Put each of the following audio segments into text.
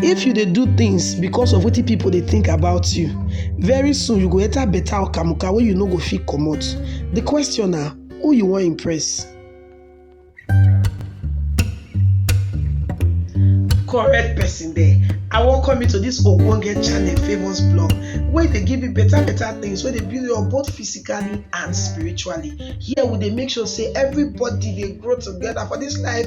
If you dey do things because of wetin people dey think about you, very soon you go enter better okamuka wey you no go fit comot. The question na who you wan impress? Correct person there. I welcome you to this ogbonge channel Favours Blog wey dey give you better better things wey dey build you up both physically and spiritually. Here we dey make sure say everybody dey grow together for this life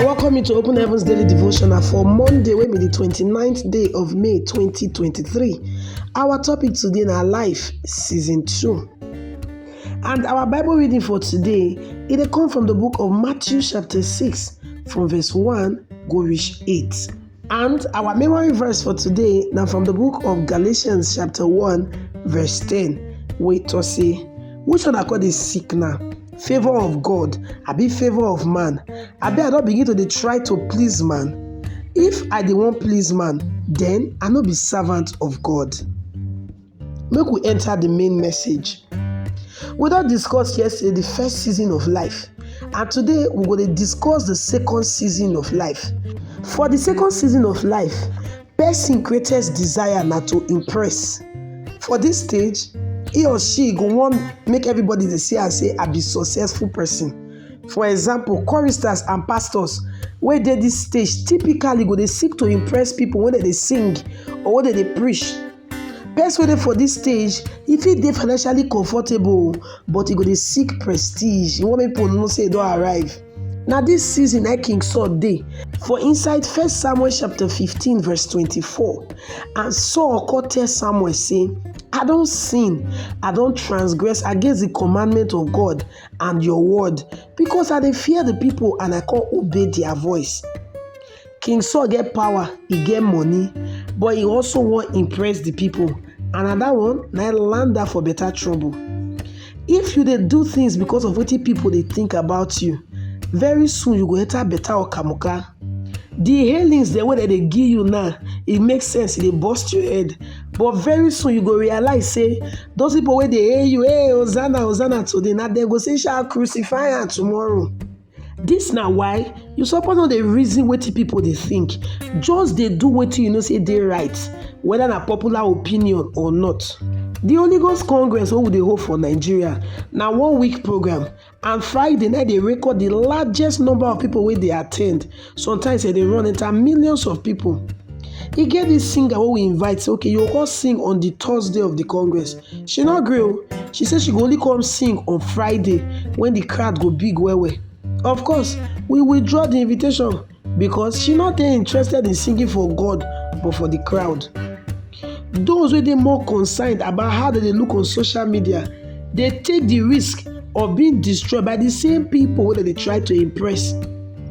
I welcome you to Open Heavens Daily Devotional for Monday, wey be the 29th day of May 2023. Our topic today na Life Season 2. And our Bible reading for today, e dey come from the book of Matthew chapter 6 from verse 1 go reach 8. And our memory verse for today now from the book of Galatians chapter 1 verse 10 wey to say which one I call this sick now? Favor of God, I be favor of man. I be I don't begin to dey try to please man. If I dey wan please man, then I no be servant of God. Make we enter the main message. We don discuss yesterday the first season of life and today we go dey discuss the second season of life. For the second season of life, person greatest desire na to impress. For this stage, he or she go wan make everybody dey see am say I be successful person. For example, choristers and pastors wey dey this stage typically go dey seek to impress people when dem dey sing or when dem dey preach Person wey dey for this stage, e fit dey financially comfortable but e go dey seek prestige, e wan make people know say e don arrive. Na this season na King Saul dey for inside First Samuel chapter 15 verse 24. And Saul come tell Samuel say, I don sin, I don transgress against the commandment of God and your word because I dey fear the people and I come obey their voice. King Saul get power, he get money, but he also wan impress the people. And na that one na land her for better trouble. If you dey do things because of wetin people dey think about you, very soon you go enter better okamuka. The hailings dem wey dem dey give you now, e make sense, e dey burst your head. But very soon you go realize say those people wey dey hail you, hey, Hosanna, Hosanna today, na dem go say, shall crucify am tomorrow. Dis na why you suppose no dey reason wetin people dey think, just dey do wetin you know say dey right, whether na popular opinion or not. The Holy Ghost Congress wey we dey hold for Nigeria na one week program and Friday na dey record the largest number of people wey dey attend Sometimes e dey run enter millions of people. E get this singer wey we invite say okay you go come sing on the Thursday of the Congress. She no gree o. She say she go only come sing on Friday when the crowd go big well well. Of course, we withdraw the invitation because she no dey interested in singing for God but for the crowd. Those wey dey more concerned about how dem dey look on social media dey take the risk of being destroyed by the same people wey dem dey try to impress.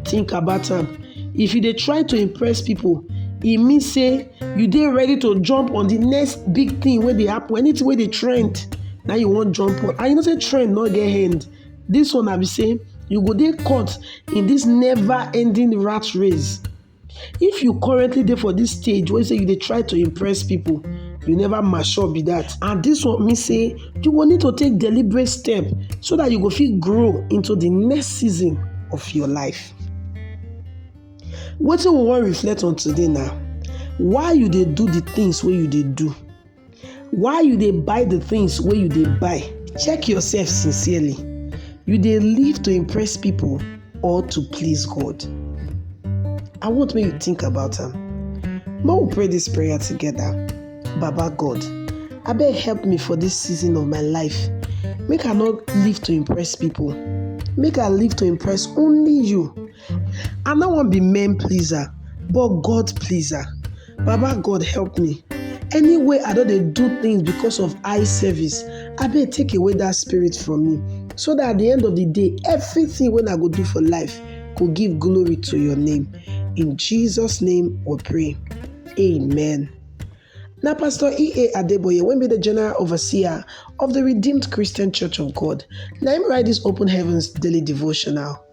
Think about am, if you dey try to impress people, e mean say you dey ready to jump on the next big thing wey dey happen, anything wey dey trend na you wan jump on and you know say trend no get end. This one na be say you go dey caught in this never ending rat race If you currently dey for this stage wey say you dey try to impress people, you never mature be that. And this one mean say you will need to take deliberate step so that you go fit grow into the next season of your life. Wetin we wan reflect on today now? why you dey do the things wey you dey do? why you dey buy the things wey you dey buy check yourself sincerely you dey live to impress people or to please god i want make you think about am make we pray this prayer together baba god abeg help me for this season of my life make i no live to impress people make i live to impress only you I no wan be men pleaser, but God pleaser. Baba God help me. Anyway, I don dey do things because of eye service. Abeg take away that spirit from me so that at the end of the day, everything wey I go do for life go give glory to your name. In Jesus' name we pray. Amen. Na Pastor E.A. Adeboye wey be the General Overseer of the Redeemed Christian Church of God na him write this Open Heavens Daily Devotional.